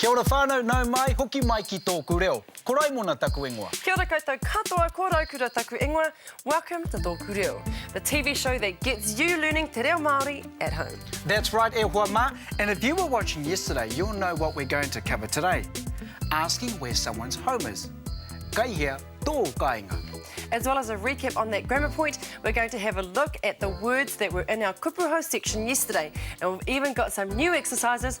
Kia ora whanau, nau mai, hoki mai ki tōku reo. Ko Raimona taku ingoa. Kia ora koutou katoa, ko Raukura taku ingoa, welcome to Tōku Reo, the TV show that gets you learning te reo Māori at home. That's right e hoa mā, and if you were watching yesterday you'll know what we're going to cover today, asking where someone's home is, kai hea tō kāinga. As well as a recap on that grammar point, we're going to have a look at the words that were in our kupu hou section yesterday, and we've even got some new exercises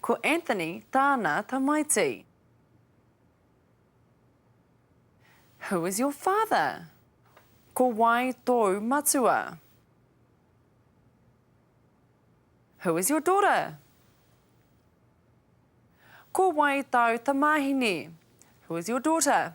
Ko Anthony tāna tamaiti. Who is your father? Ko wai tōu matua? Who is your daughter? Ko wai tāu tamāhine? Who is your daughter?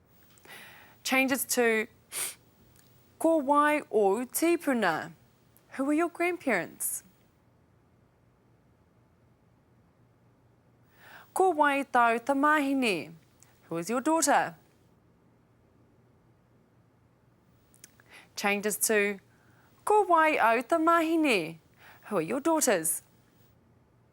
Changes to Ko wai ōu tīpuna? Who were your grandparents? Ko wai tāu tamāhine? Who is your daughter? Changes to Ko wai āu tamāhine? Who are your daughters?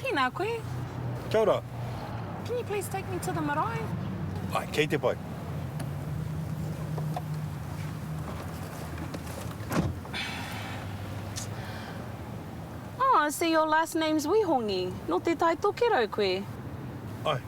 Tēnā koe. Kia ora. Can you please take me to the marae? Ai, kei te pai. Oh, I see your last name's Wihongi. Nō te Tai Tokerau koe? Ai.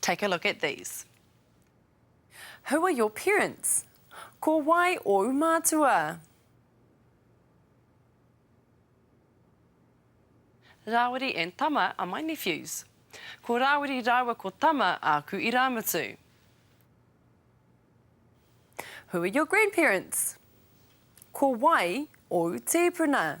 Take a look at these. Who are your parents? Ko wai ōu mātua? Rāwiri and Tama are my nephews. Ko Rāwiri rāua ko Tama āku irāmutu. Who are your grandparents? Ko wai ōu tīpuna?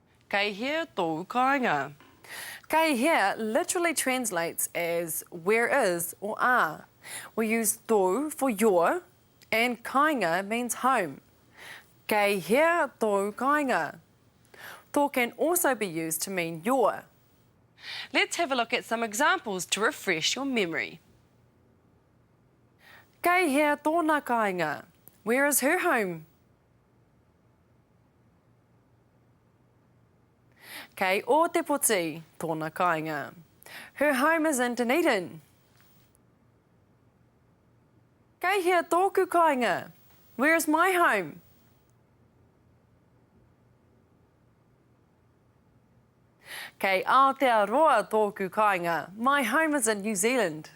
Kei hea tōu kāinga? Kei hea literally translates as where is or are. We use tōu for your and kāinga means home. Kei hea tōu kāinga? Tō can also be used to mean your. Let's have a look at some examples to refresh your memory. Kei hea tōna kāinga? Where is her home? Kei Ōtepoti tōna kāinga. Her home is in Dunedin. Kei hea tōku kāinga? Where is my home? Kei Aotearoa tōku kāinga. My home is in New Zealand.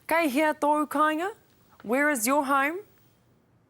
Kei hea tōu kāinga? Where is your home?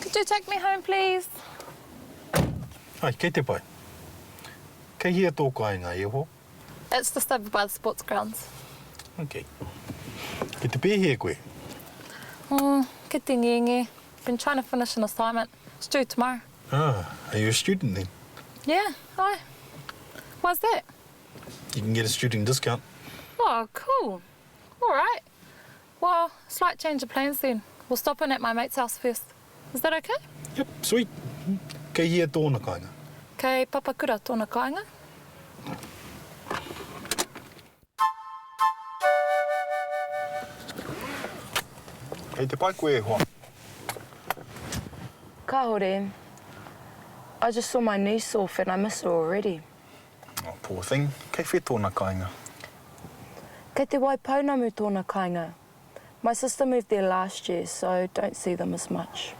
Could you take me home please? Ai, kei te pai. Kei hea tō kāinga, e ho? It's just over by the sports grounds. Ok. Kei te pēhea koe? Oh, kei te ngenge. Been trying to finish an assignment. It's due tomorrow. Ah, are you a student then? Yeah, ai. Why's that? You can get a student discount. Oh cool, alright, well slight change of plans then, we'll stop in at my mate's house first, is that ok? Yep, sweet, kei hea tōna kāinga? Kei Papakura tōna kāinga. Kei te pai koe e hoa? Kāore, I just saw my niece off and I miss her already. Oh, poor thing. Kei whe tona kainga? Kei te Waipounamu tona kainga. My sister moved there last year, so don't see them as much.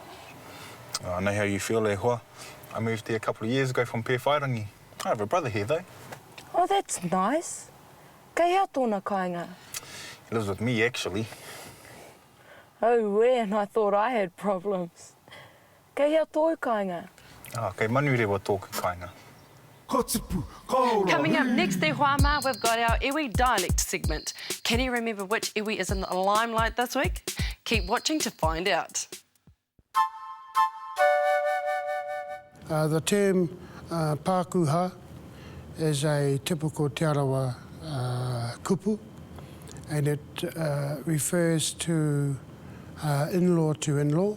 Oh, I know how you feel, e hoa. I moved there a couple of years ago from Pewhairangi. I have a brother here, though. Oh, that's nice. Kei hea tona kainga? He lives with me, actually. Auē, and I thought I had problems. Kei hea tōu kāinga? Ah, kei Manurewa tōku kāinga. Ka tipu, ka ora, hū! Coming up next e hoa mā, we've got our iwi dialect segment. Can you remember which iwi is in the limelight this week? Keep watching to find out. The term Pākūhā is a typical Te Arawa kupu and it refers to in-law to in-law.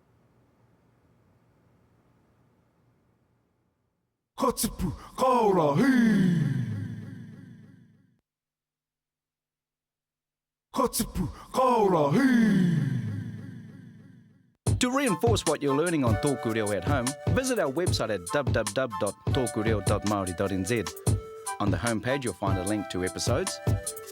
Ka tipu, ka ora, hī-Ka tipu, ka ora, hī-. To reinforce what you're learning on Tōku Reo at home, visit our website at www.tokureo.maori.nz. On the home page you'll find a link to episodes,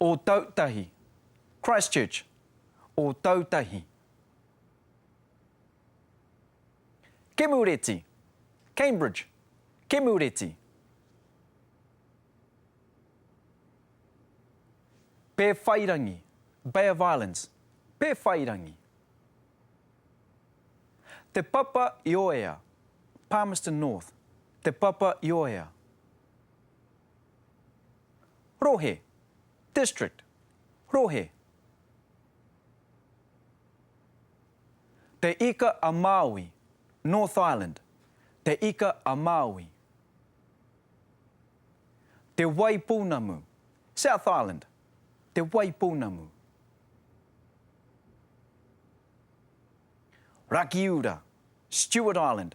Ōtautahi, Christchurch, Ōtautahi. Kemureti, Cambridge, Kemureti. Pēwhairangi, Bay of Islands, Pēwhairangi. Te Papa Ioea, Palmerston North, Te Papa Ioea. Rohe, district, rohe. Te Ika a Māui, North Island, Te Ika a Māui. Te Waipounamu, South Island, Te Waipounamu. Rakiura, Stewart Island,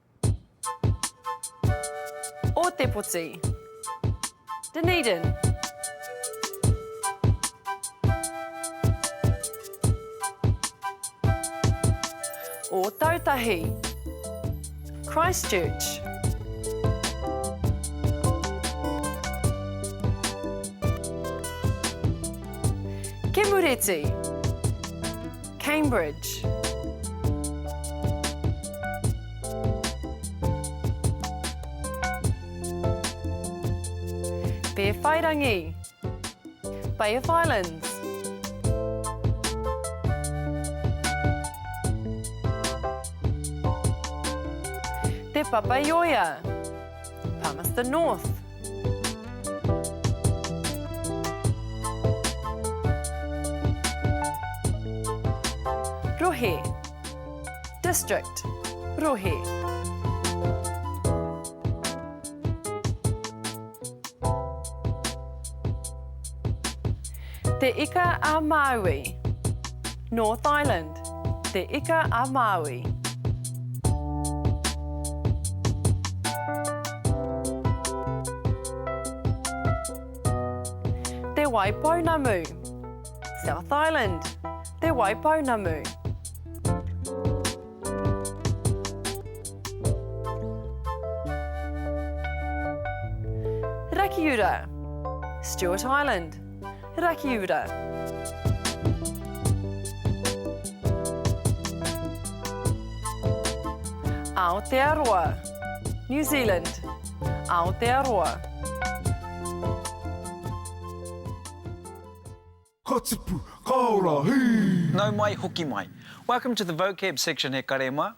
Ōtepoti Dunedin Ōtautahi Christchurch Kemureti Cambridge. Pēwhairangi. Bay of Islands. Te Papaioea. Palmerston North. Rohe. District. Rohe. Te Ika a Maui. North Island. Te Ika a Māui. Te Wai Pounamu. South Island. Te Wai Pounamu. Rakiura. Stewart Island. Rakiura. Aotearoa, New Zealand, Aotearoa. Ka tipu, ka ora, hī! Nau mai, hoki mai. Welcome to the vocab section, he karema.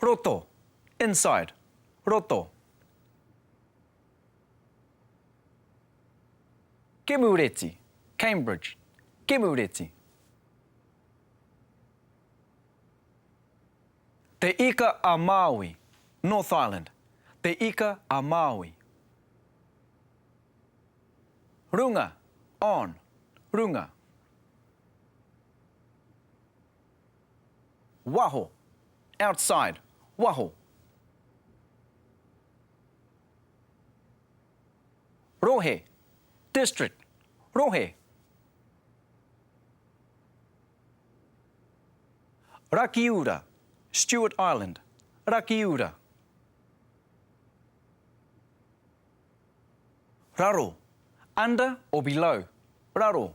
Roto, inside, roto. Kemureti, Cambridge, Kemureti. Te Ika a Māui, North Island, Te Ika a Māui. Runga, on, runga. Waho, outside, waho. Rohe, district, rohe. Rakiura, Stewart Island, Rakiura. Raro, under or below, raro.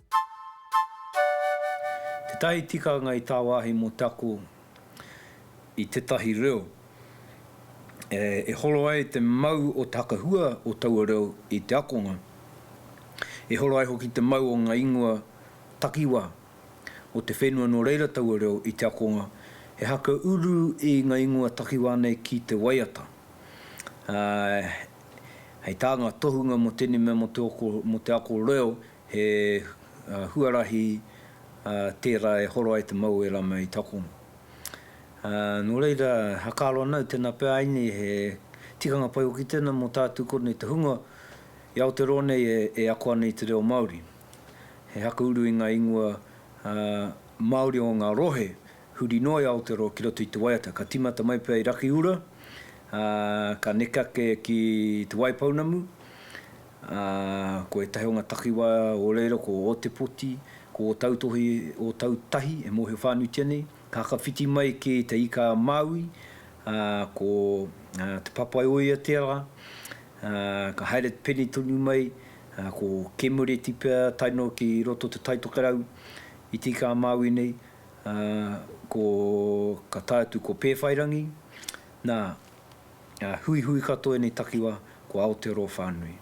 Tētahi tikanga i tāwāhi mō te ako i tētahi reo e horo ai te mau o te hakahua o taua reo i te akonga, e horo ai hoki te mau o ngā ingoa takiwā o te whenua nō reira taua reo i te akonga, he haka uru i ngā ingoa takiwā nei ki te waiata. Hei tā ngā tohunga mō tēnei mea mō te ako reo, He huarahi tērā e horo ai te mau o ērā mei takono. Nō reira, hakaro ana au tēnā pea ai nei he tikanga pai hoki tēnā mō tātou kōnei te hunga i Aoteroa nei e ako ana i te reo Māori. He haka uru i ngā ingoa Māori o ngā rohe huri noa i Aoteroa ki roto i te waiata. Ka tīmata mai pea i Rakiura, ka neke ake ki Te Waipounamu, ā, ko ētahi o ngā takiwā o reira ko Ōtepoti, ko Ōtautohe, Ōtautahi e mōhio whānuitia nei, ka hakawhiti mai kē i Te Ika-a-Māui, ā, ko Te Papaioiateara, ā, ka haere pene tonu mai, ā, ko Kemureti pea tae noa ki roto o Te Taitokerau i Te Ika-a-Māui nei, ā, ko, ka tae atu ko Pēwhairangi, nā, Huihui katoa enei takiwa ko Aotearoa whanui.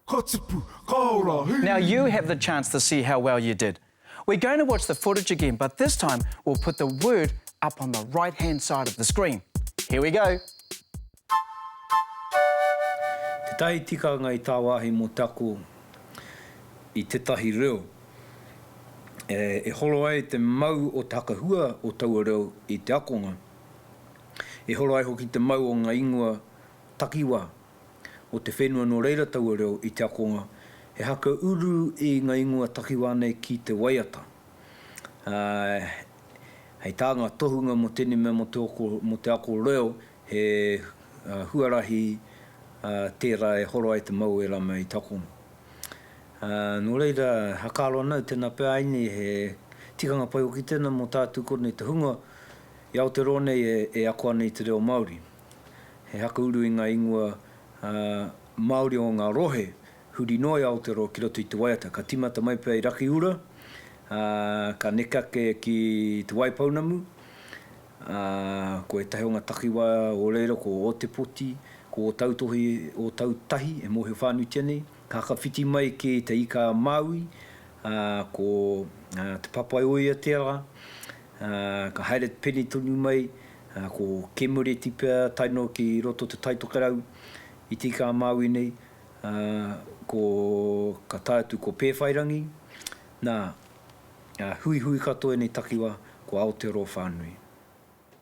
Ka tipu, ka ora, hei! Now you have the chance to see how well you did. We're going to watch the footage again but this time we'll put the word up on the right hand side of the screen. Here we go! Tētahi tikanga i tāwāhi mō te ako i tētahi reo e horo ai te mau o te hakahua o taua reo i te akonga. E horo ai hoki te mau o ngā ingoa takiwā o te whenua nō reira taua reo i te akonga he haka uru i ngā ingoa takiwā nei ki te waiata. Ā, hei tā ngā tohunga mō tēnei mea mō te oko, mō te ako reo, he huarahi tērā e horo ai te mau o ērā mea i te akonga. Ā, nō reira, hakaaro ana au tēnā pea āinei he tikanga pai hoki tēnā mō tātū konei te hunga I Aoteroa nei e ako ana i te reo Māori, he haka uru i ngā ingoa Māori o ngā rohe huri noa i Aoteroa ki roto i te waiata. Ka tīmata mai pea i Rakiura, ā, ka neke ake ki Te Waipounamu, ā, ko ētahi o ngā takiwā o reira ko Ōtepoti, ko Ōtautohi, Ōtautahi e mōhio whānuitia nei. Kakawhiti mai ki Te Ika-a-Māui, ā, ko Te Papaioiateara, ā, ka haere te pene tonu mai, ā, ko Kemureti pea tae noa ki roto te Taitokerau i Te Ika-a-Māui nei, ā, ko, ka tae atu ko Pēwhairangi, nā, ā, huihui katoa ēnei takiwā ko Aotearoa whānui.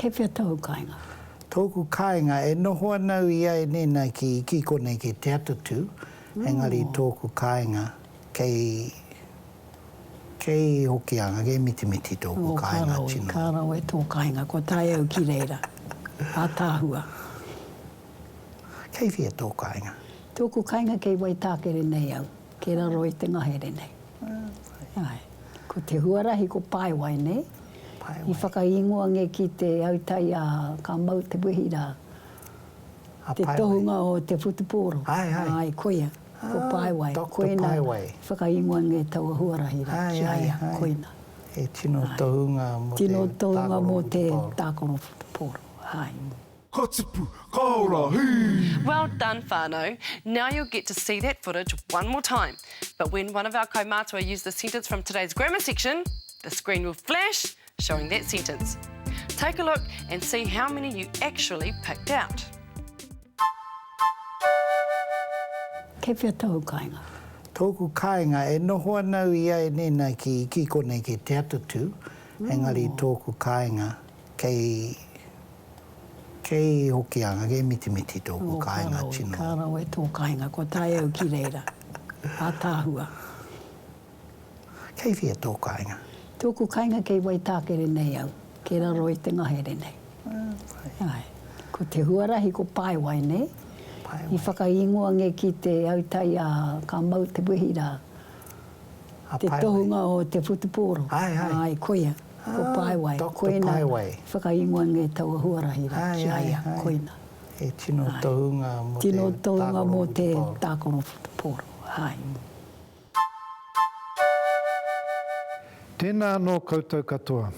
Kei whea tōu kāinga? Tōku kāinga, e noho ana au i a Enena ki Iki konei kei Te Atatū, engari tōku kāinga kei, kei Hokianga, kei Mitimiti tōku kāinga tino. Ō, ka rawe, ka rawe tō kāinga, kua tae au ki reira, ātaahua. Kei whea tō kāinga? Tōku kāinga kei Waitākere nei au, kei raro i te ngahere nei. Āe. Ko te huarahi ko Paewai, nei? Paewai. I whakaingoa nge ki te autai a ka mau te wehi ra. A Paewai. Te tohunga o te whutupōro. Ae, ae. Ae, koia. Ko Paewai. Doctor Paewai. Koina i whakaingoa nge taua huarahi ra ki a ia. Koina. He tino tohunga mo te tākaro whutupōro. Tino tohunga mo te tākaro whutupōro. Ae. Ka tipu, ka ora, hī! Well done whanau, now you'll get to see that footage one more time, but when one of our kaumātua use the sentence from today's grammar section, the screen will flash showing that sentence. Take a look and see how many you actually picked out. Kei whea tōu kāinga? Tōku kāinga, e noho ana au i a Eneina ki, ki konei, ki Te Atatū, engari tōku kāinga. Kei, kei Hokianga, kei Mitimiti tōku kāinga tino. Ka rawe tō kāinga, kua tae au ki reira. Ātaahua. Kei whia tō kāinga? Tōku kāinga kei Waitākere nei au, kei raro i te ngahere nei. Āe. Ko te huarahi ko Paewai nei. Paewai. I whakaingoa nge ki te autai a ka mau te wehi rā. a Paewai. Te tohunga o te whutupōro. Ae, ae. Ae, koia, ko Paewai. Doctor Paewai. Koina i whakaingoa nei taua huarahi rā ki a ia, koina. Ae, ae. Tino tohunga mō te tākaro whutupōro. Tino tohunga mō te tākaro whutupōro, ae. Tēnā anō koutou katoa.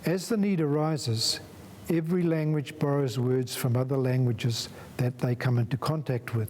As the need arises, every language borrows words from other languages that they come into contact with.